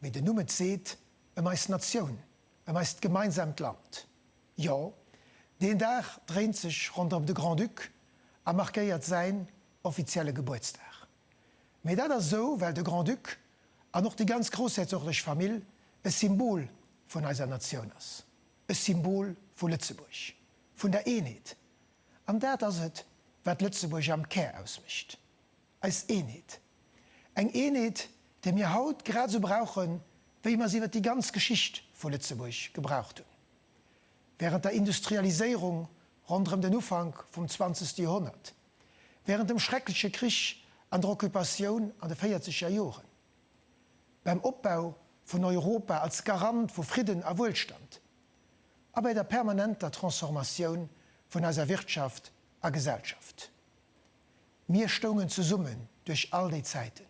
Mee den Numm et seet, ëm eis Natioun, ëm eist gemeinsaamt Land. Jo, deen Dag dréint sech ronderëm de Grand-Duc a markéiert säin offizielle Gebuertsdag. Mee dat ass esou, well de Grand-Duc an och déi ganz groussherzoglech Famill e Symbol vun eiser Natioun ass, e Symbol vu Lëtzebuerg, vun der Eenheet. An dat ass et, wat Lëtzebuerg am Kär ausmécht. Eis Eenheet. Eng Eenheet, déi mir haut grad esou brauchen, wéi mer se iwwer déi ganz Geschicht vu Lëtzebuerg gebraucht hunn, während der Industrialiséierung ronderëm den Ufank vum zwanzegste Joerhonnert, während dem schreckleche Krich an der Occupatioun an de véierzeger Joren, beim Opbau vun Europa als Garant vu Fridden a Wuelstand a bei der permanenter Transformatioun vun eiser Wirtschaft a Gesellschaft. Mir stoungen zesummen duerch all déi Zäiten.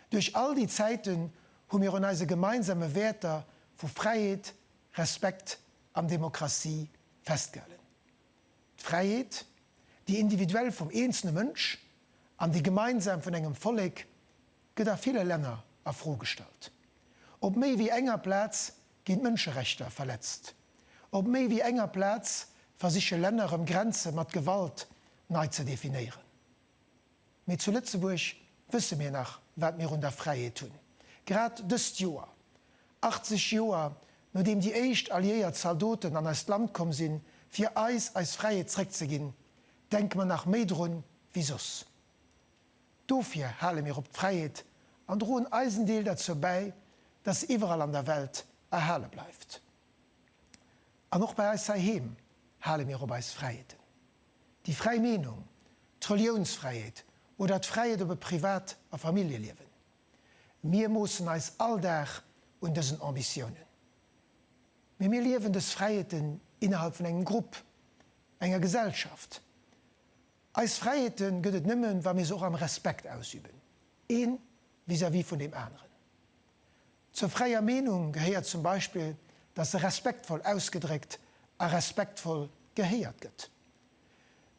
Duerch all déi Zäiten hu mir un eise gemeinsame Wäerter vu Fräiheet, Respekt an Demokratie festgehalen. D'Fräiheet, déi individuell vum eenzele Mënsch an déi gemeinsam vun engem Vollek, gëtt a ville Länner a Fro gestallt. Op méi wéi enger Plaz ginn d'Mënscherechter verletzt. Op méi wéi enger Plaz versiche Länner erëm Grenze mat Gewalt nei ze definéieren. Mee zu Lëtzebuerg wësse mir nach, wat mir un der Fräiheet hunn. Grad dëst Joer, 80 Joer nodeem déi éischt alliéiert Zaldoten an eist Land komm sinn, fir eis eis Fräiheet zréckzeginn, denke mer nach méi drun wéi soss. Dofir hale mir op d'Fräiheet an droen eisen Deel derzou bäi, dass se iwwerall an der Welt erhale bleift. An och bei eis heiheem hale mir op eis Fräiheeten. Déi fräi Meenung, d'Reliounsfräiheet oder d'Fräiheet op e Privat a Familljeliewen. Mir moossen eis all Dag un dësen Ambitiounen. Mee mir liewen dës Fräiheeten innerhalb vun engem Grupp, enger Gesellschaft. Eis Fräiheete gëtt et nëmmen, wa mir se och am Respekt ausüben, ee vis-à-vis vun deem aneren. Zur fräier Meenung gehéiert zum Beispill, datt se respektvoll ausgedréckt a respektvoll gehéiert gëtt.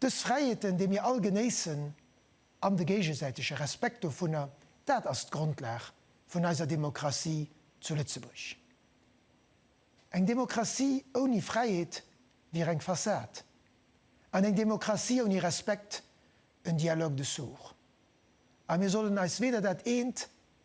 Dës Fräiheeten, déi mir all genéissen, an de géigesäitege Respekt dovunner, dat ass d'Grondlag vun eiser Demokratie zu Lëtzebuerg. Eng Demokratie ouni Fräiheet wier eng Fassad, an eng Demokratie ouni Respekt en Dialogue de sourds. A mir sollen eis weder dat eent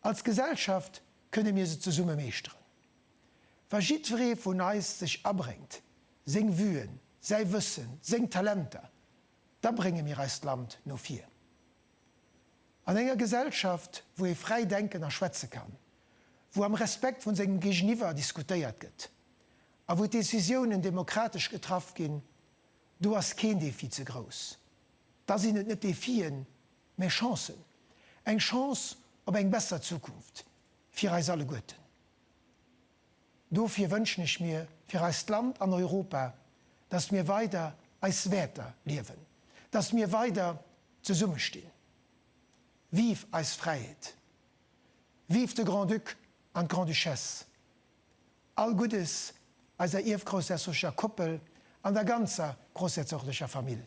Als Gesellschaft kënne mir se zesumme meeschteren. Wa jiddweree vun eis sech abréngt, seng Vuen, säi Wëssen, seng Talenter, da brénge mir eist Land no vir. An enger Gesellschaft, wou ee fräi denken a schwätze kann, wou am Respekt vun sengem Géigeniwwer diskutéiert gëtt a wou d'Décisiounen demokratesch getraff ginn, do ass keen Defi ze grouss. Da sinn et net Defien, Mä Chancen, eng Chance op eng besser Zukunft fir eis alleguerten, dofir wënschen ech mir fir eist Land an Europa, datt mir weider eis Wäerter liewen, datt mir weider zesummestinn. Vive eis Fräiheet! Vive de Grand-Duc an d'Grande-Duchesse! All Guddes eiser ierfgroussherzoglecher Koppel an der ganzer groussherzoglecher Famill!